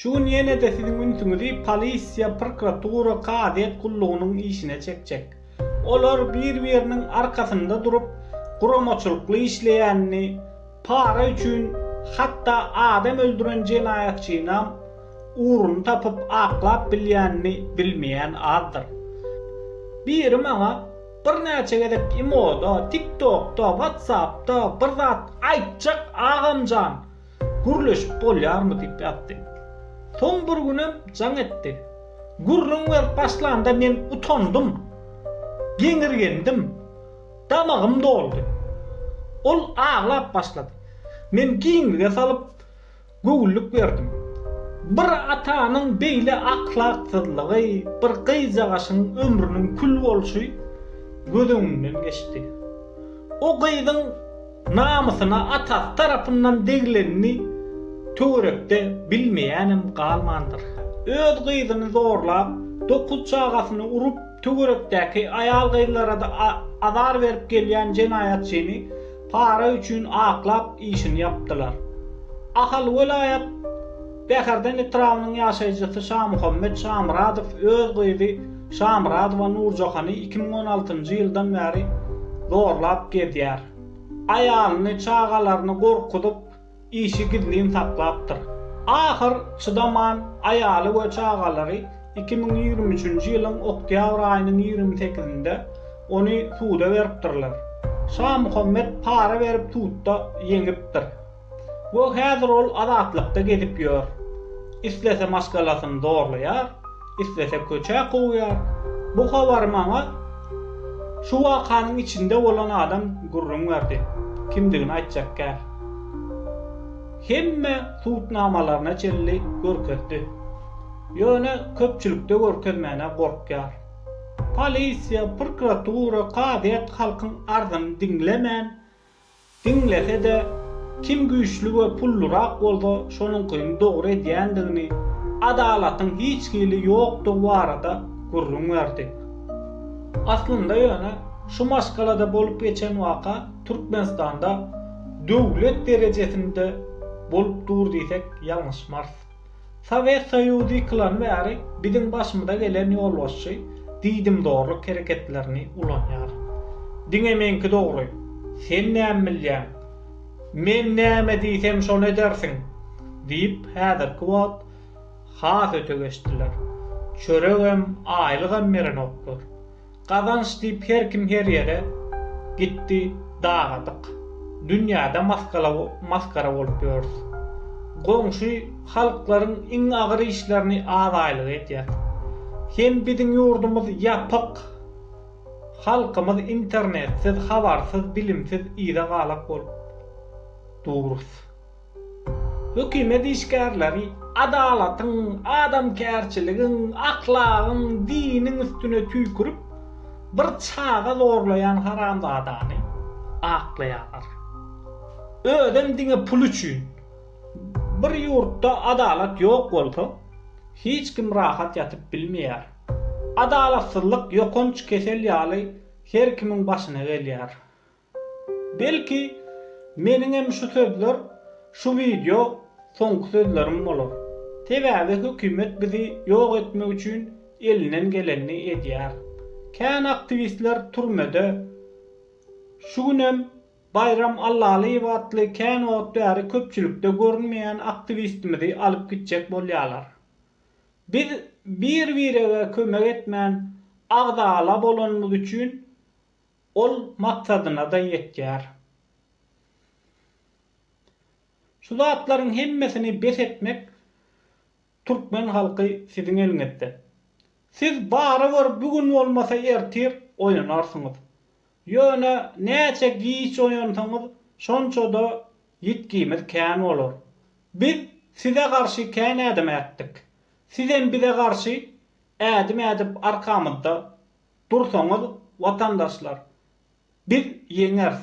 Şu gün ýene-de siziň ünsüňizi polisiýa, prokuratura, kazyýet gullugynyň işine çekjek. Olar bir-biriniň arkasynda durup, guramaçylykly işleýänini, para üçin hatda adam öldüren jenaýatçynam ugruny tapyp aklap bilýänini bilmeýän azdyr. Biri maňa birnäçe gezek imoda, tiktokda, watsapda bir zat aýtjak agamjan, Gürleşip bolýarmy diýip ýatdy. Soň bir günem jaň etdi. Gürrüň berip başlanda men utandym. Geňirgendim. Damagym doldy. Ol aglap başlady. Men giňlige salyp, göwünlik berdim. Bir atanyň beýle ahlaksyzlygy, bir gyzjagaşyň ömrüniň kül bolşy göz öňümden geçdi. O gyzyň Namysyna atasy tarapyndan degilenini töwerekde bilmeýänem galmandyr. Öz gyzyny zorlap, dokuz çagasyny urup, töwerekdäki aýal-gyzlarada azar berip gelýän jenaýatçyny para üçin aklap işini ýapdylar. Ahal welaýat Bäherden etrabynyň ýaşaýjysy Şamuhammet Şamyradow öz gyzy Şamyradowa Nurjahany iki müň on altynjy ýyldan bäri zorlap gezýär. Aýalyny, çagalaryny gorkuzyp, işi gizlin saklapdyr. Ahyr çydaman, aýaly we çagalary iki müň ýigrimi üçünji ýylyň oktýabr aýynyň ýigrimi sekizinde ony suda beripdirler. Şamuhammet para berip sudda ýeňipdir. we häzir ol azatlykda gezip ýör. Islese maşgalasyny zorlaýar, islese köçä kowýar. Bu habary maňa şu wakanyň içinde bolan adam gürrüň berdi. Kimdigini aýtjak däl. Hemme subutnamalaryna çenli görkezdi. Ýöne köpçülikde görkezmäne gorkýar. Polisiýa, prokuratura, kazyýet halkyň arzyny diňlemän, Diňlese-de, kim güýçli we pullurak bolsa şonuňkyny dogry edýändigini, adalatyň hiç hili ýokdugy barada gürrüň berdi. Aslynda ýöne şu maşgalada bolup geçen waka Türkmenistanda döwlet derejesinde bolup dur diýsek ýalňyşmarys. Sowet Soýuzy ýykylan bäri biziň başymyza gelen ýolbaşçy diýdimzorluk hereketlerini ulanýar. Diňe meňki dogry, sen näme bilýäň? Men näme diýsem şony edersiň! diýip häzirki wagt has öte geçdiler. Çöregem, aýlygam berenoklar. Gazanç diýip her kim her ýere gitdi dagadyk. Dünýäde maskala maskara bolup ýörüs. Goňşy halklaryň iň agyr işlerini az aýlyga etýäs. Hem biziň ýurdumyz ýapyk. Halkymyz internetsiz, habarsyz, bilimsiz yza galak bolup durus. Hökümet işgärleri adalatyň, adamkärçiligiň, ahlagyň, diniň üstüne tüýkürip, bir çaga zorlaýan haramzadany aklaýarlar. Özem diňe pul üçin. Bir ýurtda adalat ýok bolsa, hiç kim rahat ýatyp bilmeýär. Adalatsyzlyk ýokanç kesel ýaly her kimiň başyna gelýär. Belki, meniňem şu sözler şu wideo soňky sözlerim bolar. Sebäbi hökümet bizi ýok etmek üçin elinden gelenini edýär. Kän aktiwistler türmede. Şu günem Baýram Allalyýew atly kän wagt bäri köpçülikde görünmeýän aktiwistimizi alyp gitjek bolýarlar. Biz bir-birege kömek etmän agzala bolanymyz üçin Ol maksadyna-da ýetýär. Şu zatlaryň hemmesini bes etmek türkmen halky siziň eliňizde. Siz barybir bu gün bolmasa ertir oýanarsyňyz. Ýöne näçe giç oýansaňyz şonça-da ýitgimiz kän bolar. Biz size garşy kän ädim ätdik. Sizem bize garşy ädim ädip arkamyzda dursaňyz watandaşlar biz ýeňers.